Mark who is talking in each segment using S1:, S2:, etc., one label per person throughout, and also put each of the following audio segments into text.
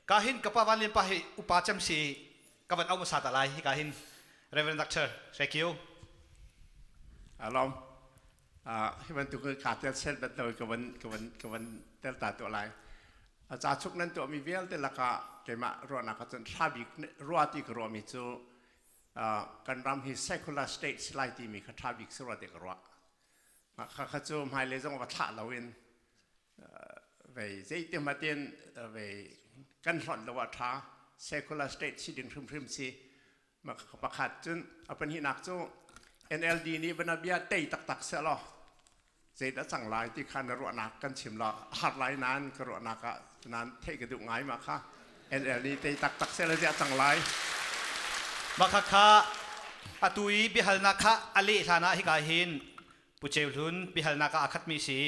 S1: ka hin ka pa van lian pa hi upa cem si ka van au hmasa ta lai hi ka hin reverend doctor thank you alom uh, hi bantuk ka tel set bantuk ka van ka van ka van tel ta to lai a cha chuk nan to mi vialte laka keima ruana ka chun thabi ruwa ti ka ruwa mi chu uh, kan ram hi secular state silai ti mi ka thabik surwa te ka ruwa ma kha kha chu mai le zong va thla lo in vei zeitim atin vei kan hlonh lo a tha secular state si ding hrimhrim si pakhat cun a pahnihnak cu NLD nih banabia tei taktak se law zeidah cang lai ti kha na ruahnak kan chim la har lai nan ka ruahnak ah nan theih ka duh ngai ma kha NLD tei taktak se la ziah cang lai maka kha atu i biahalnak kha a leh hlan ah hika hin Pu Ceu Hlun biahalnak ah aa khatmi a si.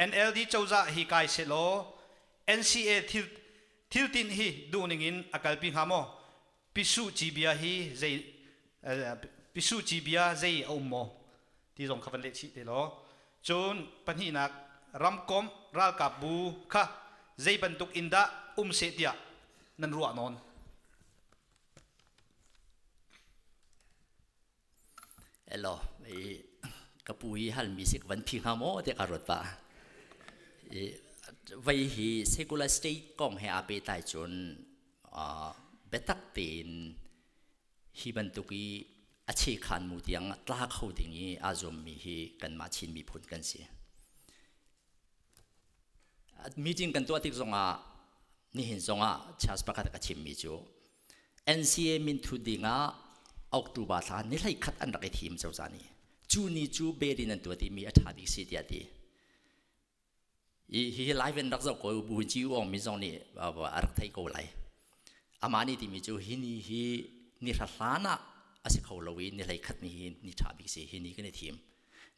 S1: NLD cozah hi kai sehlaw NCA thil thiltinh hi duhning in a kalpi hnga maw? Pisuh ci bia hi zei pisuh ci bia zei a um maw? ti zong kha van leh chih te law cun pahnihnak ramkomh ralkapbu kha zei bantuk in dah um seh tiah nan ruah nawn? Elo, ka pu hi halmi sik van phi hnga maw tiah ka ruat pah. I vei hi secular state kong he aa pehtlai cun uh, biatak tein hi bantuk i a chekhan mu tiang tla kho ding i aa zuammi hi kanmah Chin miphun kan si. Meeting kan tuah tik zongah nihin zongah chance pakhat ka chimmi cu NCA minthut ding ah October thla ni hlei khat an rak i thim cozah ni cu ni cu bel in an tuat i mi a ṭha bik si tiah ti hi hi live in rak zoh ko buin ci uang mi zong nih a rak thei ko lai amah ni timi cu hi ni hi ni hra hlan ah a si kho lo i ni hlei khat ni hi ni ṭha bik si hi ni kan i thim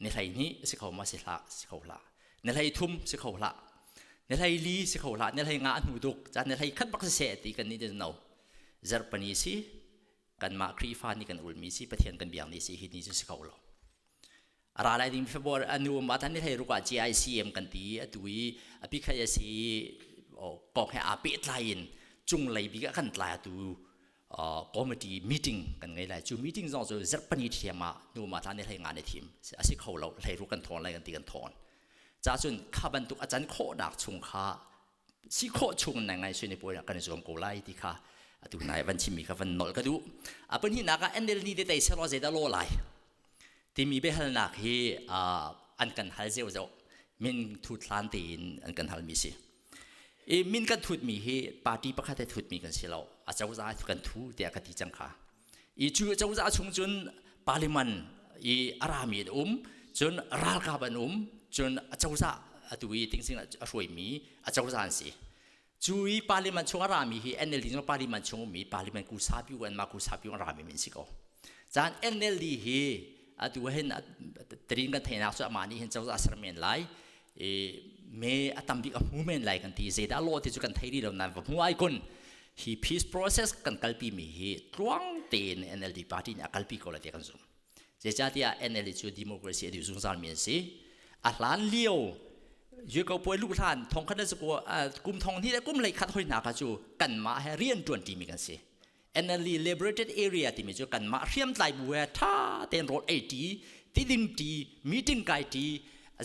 S1: ni hlei hnih si kho ma si hlah si kho hlah ni hlei thum si kho hlah ni hlei li si kho hlah ni hlei nga a hnu duk caan ni hlei khat bak si seh ti kan ni no zarpani si kanmah khrihfa ni kan ulmi si pathian kan biang ni si hi ni cu si kho lo ara lai ding februar anu ma tan ni hlei ruka GICM kan ti atu i api khai si o pong he a pe tlai in chung lei bi kan tlai atu committee meeting kan ngei lai cu meeting zong cu zerh pani thiam ah nu ma tla ne hlei nga ne thim asi kho lo hlei ru kan thon lai kan ti kan thon cha cun kha bantuk acan khawh nak chung kha si khawh chung nai ngai suine puai kan zuam ko lai ti kha atu nai van chimi kha van nol ka du apan hi naka NL ni te tai selo zeta lo lai timi be hal nak hi an kan hal zeu zeu min thu thlan te in an kan hal mi si i min kan thutmi hi party pakhat he thutmi kan si lo acozah he kan thu tiah ka ti cang kha i cu acozah chung cun parliament i a rami an um cun ralkap an um cun acozah atu i tingsing a hruaimi acozah an si cu i parliament chung a rami hi NLD cu parliament chung ummi parliament ku sapi u an mah ku sapi u an rami min si ko caan NLD hi atu hin terin kan theinak cu amah nih hin cozah ser men lai i me a tam bik a hmu men lai kan ti zeidah law ti cu kan thei rih lo nain va hmu ai kun hi peace process kan kalpi mi hi tluang tein NLD party nih a kalpi ko lai ti kan zum zeicahtiah NLD cu democracy a dih zungzal mi an si a hlan lio yuko puai luh hlan thong khat le kum thong hnih le kum lei khat hoi hna ka cu kan mah he rian tuan ṭi mi kan si Energy Liberated Area timi cu kanmah hriamtlai bu he ṭha tein rawl ei ṭi, tidim ṭi, meeting kai ṭi,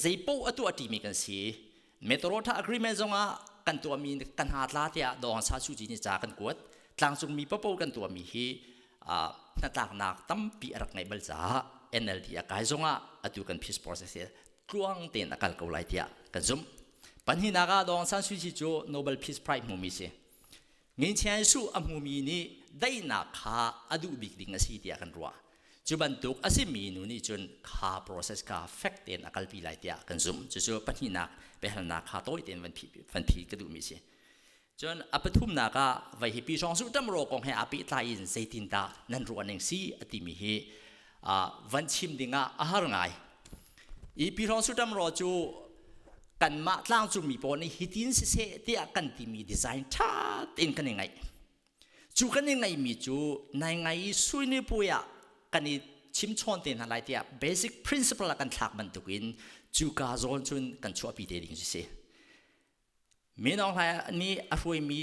S1: zeipaoh a tuah ṭimi kan si. Metrotra Agreement zongah kan tuahmi kan ha tla tiah Dawhan Sa Su Ci nih ca kan kuat. Tlangcungmi papo kan tuahmi hi uh, hnatlaknak tampi a rak ngeih bal caah NLD a kai zongah atu kan peace process hi tluang tein a kal ko lai tiah kan zumh. Panhnak ah Dawhan San Su Ci cu Nobel Peace Prize hmumi si. Nginchia Jesuh a hmumi nih daihnak kha a duh bik ding a si tiah kan ruah. Cu bantuk a simi nu nih cun kha process kha fek tein a kalpi lai tiah kan zumh. Cucu pahnihnak biahalnak kha tawi tein van phi, van phi ka duhmi a si. Cun a pathumnak ah vai hi pi hrawng suh ṭam raw kong he aa pehtlai in zeitindah nan ruahning si a timi hi van chim dingah a har ngai i Pihrong Suṭam Raw cu kanmah tlangcungmi pawl nih hitin siseh tiah kan timi design ṭha tein kan i ngaih cu kan i ngaihmi cu nai ngai i suinipuai ah kan i chimchawn te hna lai tiah basic principle ah kan thlak bantukin cuka zawn cun kan chuahpi te ding si si minong nih a hruaimi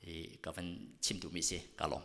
S1: i ka van chim duhmi si ka lawm